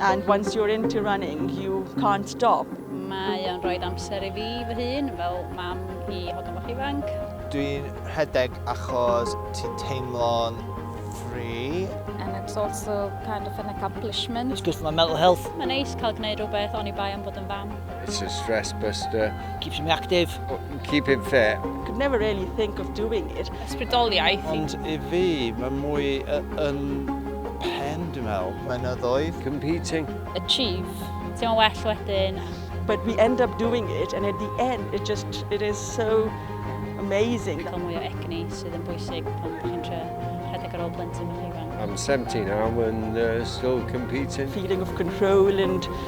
And once you're into running, you can't stop. Mae o'n rhoi amser i fi fy hun, fel mam i hogan bach ifanc. Dwi'n rhedeg achos ti'n teimlo'n free. And it's also kind of an accomplishment. It's good for my mental health. Mae'n neis cael gwneud rhywbeth oni bai am bod yn fam. It's a stress buster. Keeps me active. Keep him fit. Could never really think of doing it. Ysbrydoliaeth. Ond i fi, mae mwy yn pen, dwi'n meddwl. Mynyddoedd. Competing. Achieve. Ti'n well wedyn. But we end up doing it and at the end it just, it is so amazing. Cael mwy o egni sydd yn bwysig pan chi'n tre rhedeg ar ôl plentyn bach ifanc. I'm 17 now and uh, still competing. Feeling of control and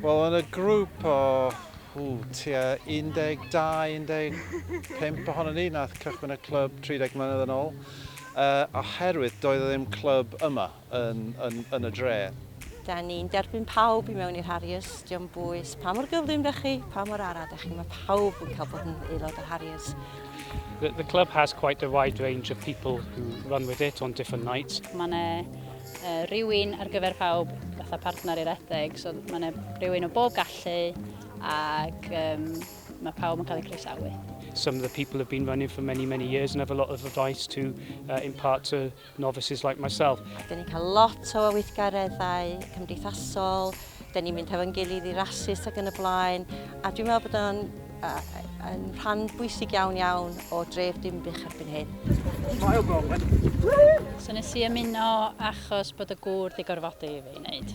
Wel, yn y grŵp o ww, tua 12-15 ohono ni nath cychwyn y clwb 30 mlynedd yn ôl, uh, oherwydd doedd e ddim clwb yma. yn, yn, yn y dre. Da ni'n derbyn pawb i mewn i'r Harriers, diolch yn bwys pa mor gyflym da chi, pa mor ara da chi, mae pawb yn cael bod yn aelod o'r Harriers. The, the club has quite a wide range of people who run with it on different nights. Mae yna uh, rhywun ar gyfer pawb fatha partner i'r edeg, so mae yna rhywun o bob gallu ac um, mae pawb yn cael eu croesawu. Some of the people have been running for many, many years and have a lot of advice to uh, impart to novices like myself. Dyn ni'n cael lot o weithgareddau cymdeithasol, dyn ni'n mynd hefo'n gilydd i rasus ac yn y blaen, a dwi'n meddwl bod o'n yn rhan bwysig iawn iawn o dref Dinbych erbyn hyn. Smile Bronwyn! So nes i ymuno achos bod y gŵr di gorfodi i fi wneud.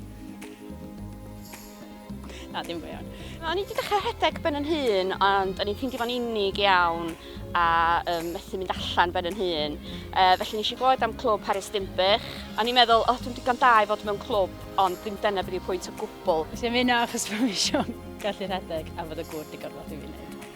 Na, dim go iawn. O'n i wedi dechrau rhedeg ben yn hun, ond o'n i'n ffeindio fo'n unig iawn a um, methu mynd allan ben yn hun. Uh, felly nes i glod am clwb Harris Dimbych. O'n i'n meddwl, o, oh, dwi'n digon da i fod mewn clwb, ond ddim dyna beth yw'r pwynt o gwbl. Nes i'n mynd achos bod fi eisiau gallu rhedeg a fod y gŵr digon fath i fi wneud.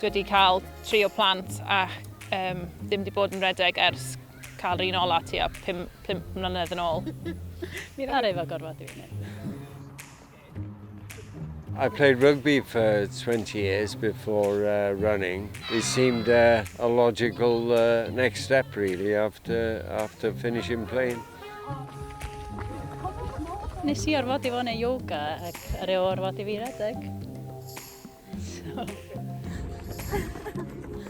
Dwi wedi cael tri o plant ac um, ddim wedi bod yn redeg ers cael yr un ola ti a 5 mlynedd yn ôl. Mi'n ar efo gorfod i fyny. I played rugby for 20 years before uh, running. It seemed uh, a logical uh, next step, really, after, after finishing playing. Nes i orfod i fod yn yoga ac ar ei orfod i fi redeg.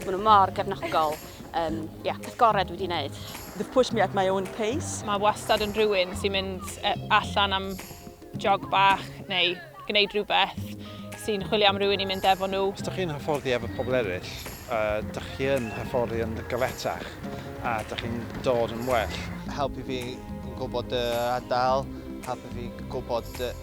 Mae nhw mor gefnogol. Um, yeah, peth gorau dwi wedi gwneud. They've pushed me at my own pace. Mae wastad yn rhywun sy'n mynd e, allan am jog bach neu gwneud rhywbeth sy'n chwilio am rhywun i mynd efo nhw. Os ydych chi'n hyfforddi efo pobl eraill, uh, ydych chi'n hyfforddi yn gyfletach a ydych chi'n dod yn well. Helpu fi yn gwybod y adael, helpu fi gwybod